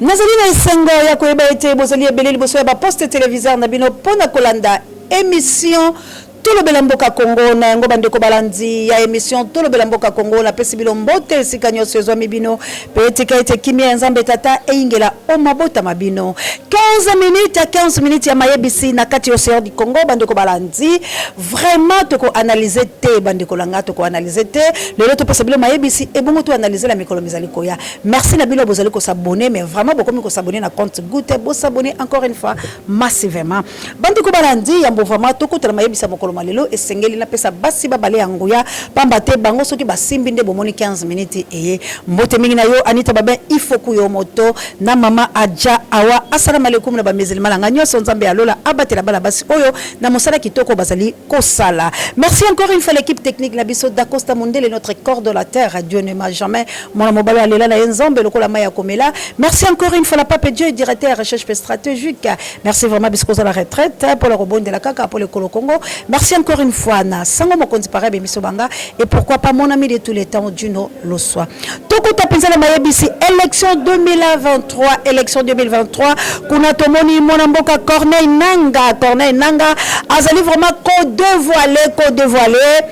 Nazali na esengo ya koyeba ete bozali ebele liboso ya baposte televiseur na bino mpo na kolanda emission tolobela mboka congo na yango bandeko balandi ya emission tolobela mboka congo napesi bino mbote esika nyonso ezwami bino mpe etika ete kimia ya nzambe tata eyingela o mabota ma bino 15 minutes ya 15 minutes ya mayebisi na kati ya ocean du congo bandeko balandi vraiment tokoanalyse te bandeko na ngai tokoanalyse te lelo topesa bino mayebisi ebongo toanalyse na mikolo mizali koya Merci na bino bozali ko s'abonner mais vraiment bokomi ko s'abonner na compte Goûter bo s'abonner encore une fois massivement. Bandi ko balandi yambo vraiment tokutana mayebisa mokolo malelo esengeli na pesa basi babale ya nguya pamba te bango soki basimbi nde bomoni 15 minutes eye mbote mingi na yo Anita Babin ifoku yo moto na mama Adja Awa assalamu alaikum na ba musulmans na nga nyonso Nzambe ya lola abatela bana basi oyo na mosala kitoko bazali kosala. Merci encore une fois l'équipe technique na biso Dacosta Mondele notre coordonnateur Dieu ne m'a jamais Mwana mobali alela na ye nzambe lokola mai ya komela. Merci encore une fois na Pape Joy, directeur ya recherche pe stratégique. Merci vraiment bisiko ozala retraite eh, mpo na kobondela kaka mpo lekolo Congo. Merci encore une fois na sango mokonzi pareil bemiso banga et pourquoi pas mon ami de tous les temps Juno Loswa. Tokuta penza na mayebisi élection 2023, élection 2023 kuna tomoni mwana mboka Corneille Nanga, Corneille Nanga azali vraiment ko dévoiler, ko dévoiler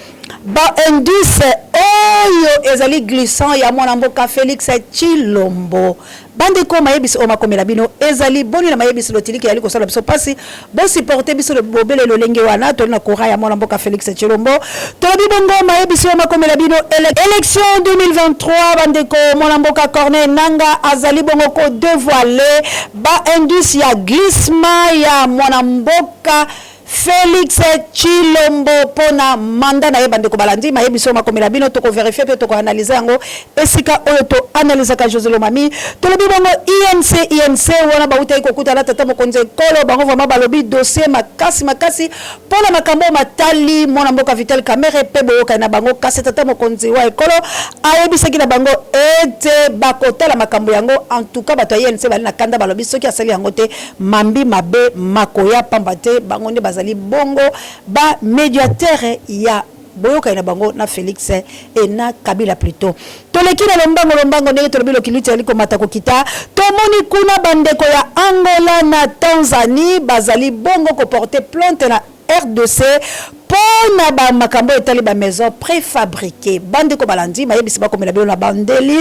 Ba indices oyo ezali glissants ya mwana mboka Felix Tshilombo. Bandeko mayebisi oyo makomela bino ezali boni na mayebisi lotiliki yali kosala biso pasi bo supporter biso bobele lolenge wana toli na courant ya mwana mboka Felix Tshilombo tolobi bongo mayebisi oyo makomela bino ele election 2023 bandeko mwana mboka Corneille Nanga azali bongo ko devoiler ba indices ya glissement ya mwana mboka Felix Tshilombo mpo na manda na ye bandeko balandi maye biso makomela bino tokoverifie mpe tokoanalyse yango esika oyo toanalysaka José Lomami tolobi bango INC INC wana bautaki kokutana tata mokonzi ekolo bango vraimen balobi dossier makasi makasi mpo na makambo oyo matali mwana mboka Vital Kamerhe mpe boyokani na bango kasi tata mokonzi wa ekolo ayebisaki na bango ete bakotala makambo yango en tout cas bato ya INC bali na kanda balobi soki asali yango te Mambi mabe makoya pamba te bango nde bazali bongo ba mediateur ya boyokani na bango na Felix et na Kabila plutot. Toleki na lombango lombango ndenge tolobi lokiluti ezali komata kokita tomoni kuna bandeko ya Angola na Tanzanie bazali bongo ko porter plainte na Rdc po na ba makambo oyo etali ba maisons prefabriquees, ba ndeko balandi mayebisi bakomela bino na bandeli.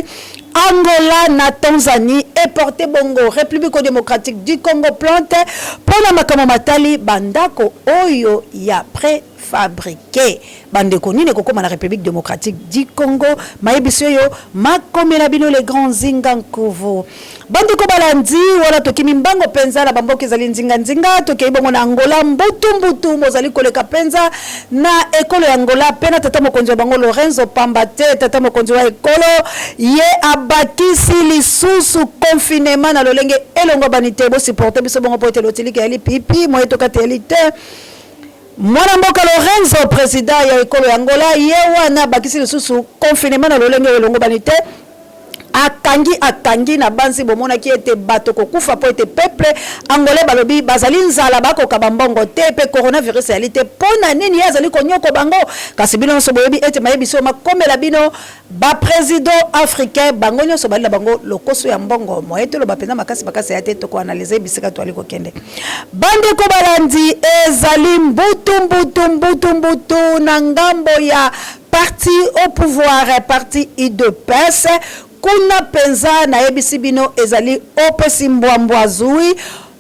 Angola na Tanzanie eporte bongo Republico Democratique du Congo plainte po na makambo matali ba ndako oyo ya prefabriquees. Ba ndeko nini ekokoma na Republique Democratique du Congo mayebisi oyo makomela bino le grand Nzinga Nkuvu. Ba ndeko balandi wana tokimi mbango penza na ba mboka ezali nzinga nzinga tokei bongo na Angola mbutu mbutu mozali koleka penza na ekolo ya Angola pe na tata mokonzi wa bango Lorenzo pamba te tata mokonzi wa ekolo ye abakisi lisusu confinement na lolenge elongobani te bo supporter biso bongo po ete lotilike ya lipipi moye tokate ya lite Mwana mboka Lourenço, president ya ekolo ya Angola, ye wana abakisi lisusu confinement na lolenge oyo elongobani te, akangi akangi na banzi bomonaki ete bato kokufa mpo ete peuple angolais balobi bazali nzala bakoka bambongo te mpe coronavirus eyali te mpo na nini ye azali konyoko bango kasi bino nyonso boyebi ete mayebisi oyo makomela bino Ba president africain bango nionso bali na bango lokoso ya mbongo moyen toloba penza makasi makasi ya te toko analyse bisika toali kokende bandeko balandi ezali mbutu mbutu mbutu mbutu na ngambo ya parti au pouvoir parti udps kuna penza nayebisi bino ezali opesi mbwa mbwa zui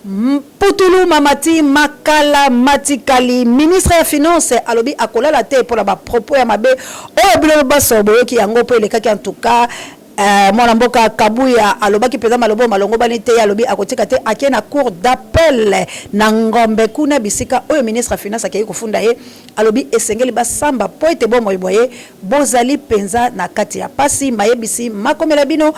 Mputulu mamati makala matikali ministre ya finance alobi akolala te pona ba propos ya mabe oyo bino banso boyoki yango po elekaki en tout cas mwana mboka kabuya alobaki penza maloba oyo malongobani te ye alobi akotika te ake na cour d'appel na ngombe kuna bisika oyo ministre ya finance akei kofunda ye alobi esengeli basamba po ete bomoi bwa ye bozali penza na kati ya pasi mayebisi makomela bino.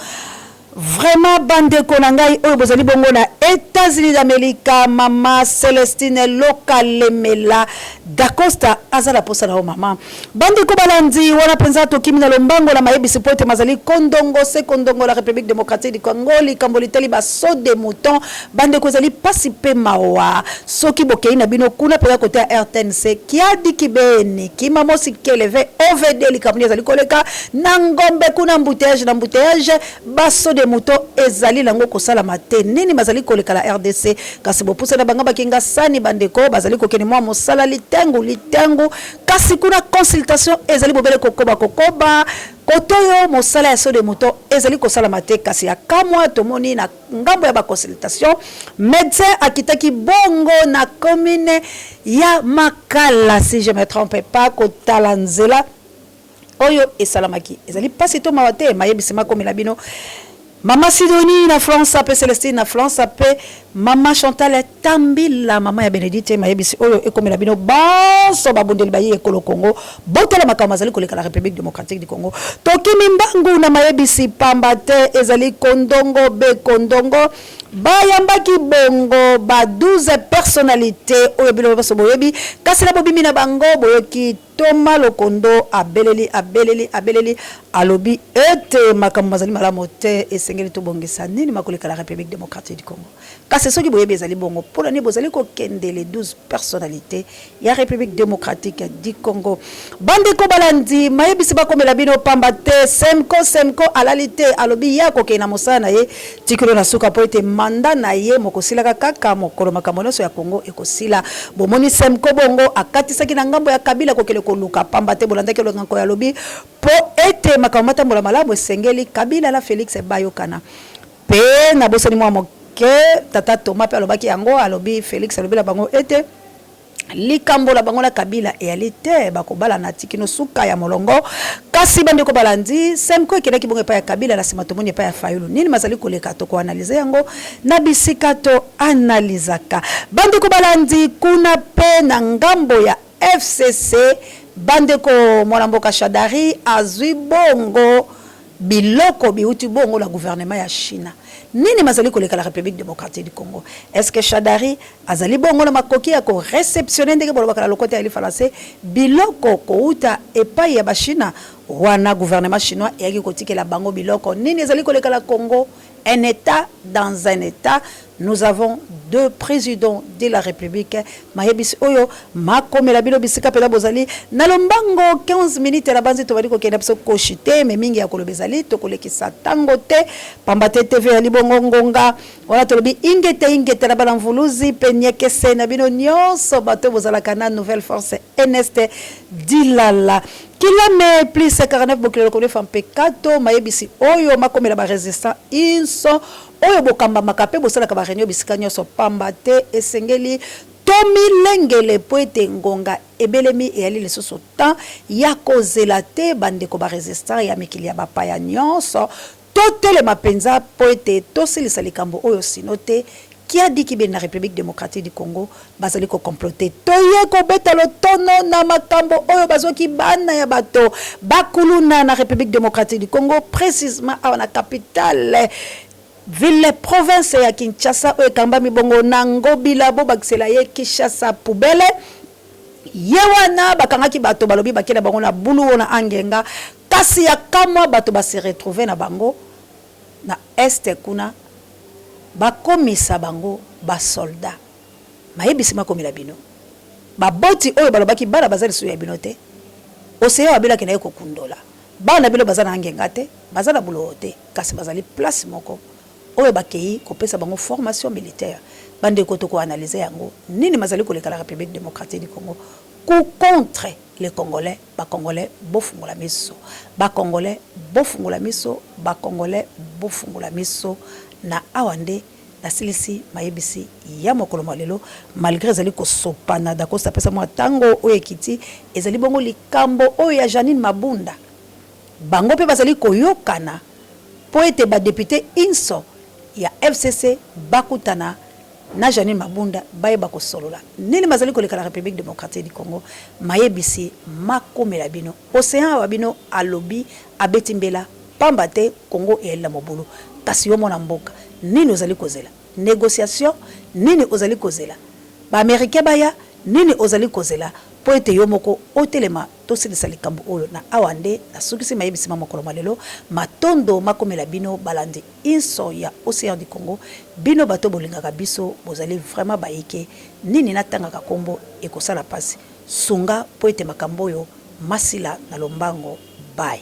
Vraiment ba ndeko na ngai oyo bozali bongo na etats unis d'america mama celestine loka lemela dacosta aza na posa na yo mama ba ndeko balandi wana penza tokimi na lombango na mayebisi po ete mazali kondongo se kondongo la republique democratique du congo likambo litali ba saut de mouton Bandeko ezali pasi pe mawa soki bokeyi na bino kuna peza kote ya rtnc kiadi kibeni kimamosi keleve ovd likambo nini ezali koleka na ngombe kuna embouteillage na embouteillage ba saut de mouton ezali nango kosalama te nini mazali koleka na rdc kasi bopusani na bangaba kingasani bandeko bazali kokende mua mosala litengu litengu kasi kuna consultation ezali bobele kokoba kokoba kotoyo mosala ya saut de mouton ezali kosalama te kasi ya kamua tomoni na ngambo ya ba consultation medecin akitaki bongo na commune ya makala si je me trompe pas kotala nzela oyo esalamaki ezali mpasi to mawa te mayebisi makomela bino mama sidonie na france mpe celestine na france mpe mama chantal Tambila mama ya Benedite mayebisi oyo ekomela bino banso babundeli bayi ekolo Congo botala makambo mazali koleka na Republique democratique du Congo tokimi mbangu na mayebisi pamba te ezali kondongo be kondongo bayambaki bongo ba 12 personnalités oyo bino banso boyebi kasi na bobimi na bango boyoki Ntoma Lokondo abeleli, abeleli, abeleli, alobi ete makambo mazali malamu te, esengeli tobongisa nini makoleka la Republique democratique du Congo. Kasi soki boyebi ezali bongo, mpo na nini bozali kokende les 12 personnalites ya Republique democratique du Congo? Bandeko balandi, mayebisi bakomela bino pamba te, Semco, Semco alali te, alobi ye akokende na mosala na ye Tikolo na suka po ete mandat na ye mokosilaka kaka mokolo makambo nionso ya Congo ekosila. Bomoni Semco bongo akatisaki na ngambo ya Kabila kokende koluka pamba te bolandaki elongi ya Nkoy alobi po ete makambo matambola malamu esengeli Kabila na Felix bayokana pe nabosani mua moke tata Thomas pe alobaki yango alobi Felix alobi na bango ete Likambo la bango na Kabila eyali te bakobalana ti kino suka ya molongo. Kasi bandeko balandi, Semco ekendaki bongo epai ya Kabila, na sima tomoni epai ya Fayulu. Nini mazali koleka? Toko analyser yango na bisika to analysaka. Bandeko balandi, kuna pe na ngambo ya fcc, bandeko mwana mboka Shadary azui bongo. Biloko biwuti bongo na gouvernement ya China nini mazali koleka na Republique democratique du Congo? Est ce que Shadary azali bongo na makoki ya ko receptionner, ndenge bolobaka na lokota ya lifalanse, biloko kowuta epayi ya ba China? Wana gouvernement chinois eyaki kotikela bango biloko nini ezali koleka na Congo? Un etat dans un etat nous avons deux presidents de la republique mayebisi oyo makomela bino bisika peza bozali na lombango 15 minutes na banzi tobali kokenda biso koshi te me mingi ya koloba ezali tokolekisa tango te pamba te tv ya libongo ngonga wana tolobi ingete ingete na bana mvuluzi pe niekese na bino nyonso bato bozalaka na nouvelle force eneste dilala Kilame plus 59 bokilo lokolo efa mpe kato mayebisi oyo makomela ba resistants inso oyo bokambamaka mpe bosalaka ba reunion bisika nionso pamba te esengeli tomilengele mpo ete ngonga ebelemi eyali lisusu temps yakozela te bandeko ba resistants ya mikili ya bapaya nionso Totelema mpenza mpo ete tosilisa likambo oyo sino te Kiadi Kibeni na Republique Democratique du Congo bazali ko comploter. Toye kobeta lotono na makambo oyo bazwaki bana ya bato ba kuluna na Republique Democratique du Congo, precisement awa na capitale ville province ya Kinshasa oyo ekambami bongo na Ngobila, bobakisela ye Kinshasa poubelle. Ye wana bakangaki bato balobi bakela bango na bulu ona angenga kasi ya kamwa bato ba se retrouver na bango na est kuna bakomisa bango ba soldat mayebisi makomela bino baboti oyo balobaki bana baza lisusu ya bino te ocean wabelaki na ye kokundola bana na bino baza na angenga te baza na buloo te kasi bazali place moko oyo bakeyi kopesa bango formation militaire bandeko toko analyser yango nini mazali koleka la Republique democratique du Congo coup contre les congolais ba congolais bofungola miso ba congolais bofungola miso ba congolais bofungola miso na awa nde nasilisi mayebisi ya mokolo mwa lelo malgre ezali kosopana Dacosta pesa mwa tango oyo ekiti ezali bongo likambo oyo ya Jeanine Mabunda. Bango mpe bazali koyokana mpo ete ba deputes inso ya fcc bakutana na Jeanine Mabunda bayeba kosolola nini mazali koleka na Republique democratique du Congo, mayebisi makomela bino. Ocean awa bino alobi abeti mbela pamba te Congo eyali na mobulu kasi yo mwana mboka nini ozali kozela? Negociation nini ozali kozela ba Americains baya? Nini ozali kozela mpo ete yo moko otelema? Tosilisa likambo oyo na awa nde nasukisi mayebisi ma mokolo mwa lelo. Matondo makomela bino balandi inso ya Ocean du Congo, bino bato bolingaka biso, bozali vraiment bayike, nini natangaka kombo ekosala pasi, sunga po ete makambo oyo masila na lombango. Bye.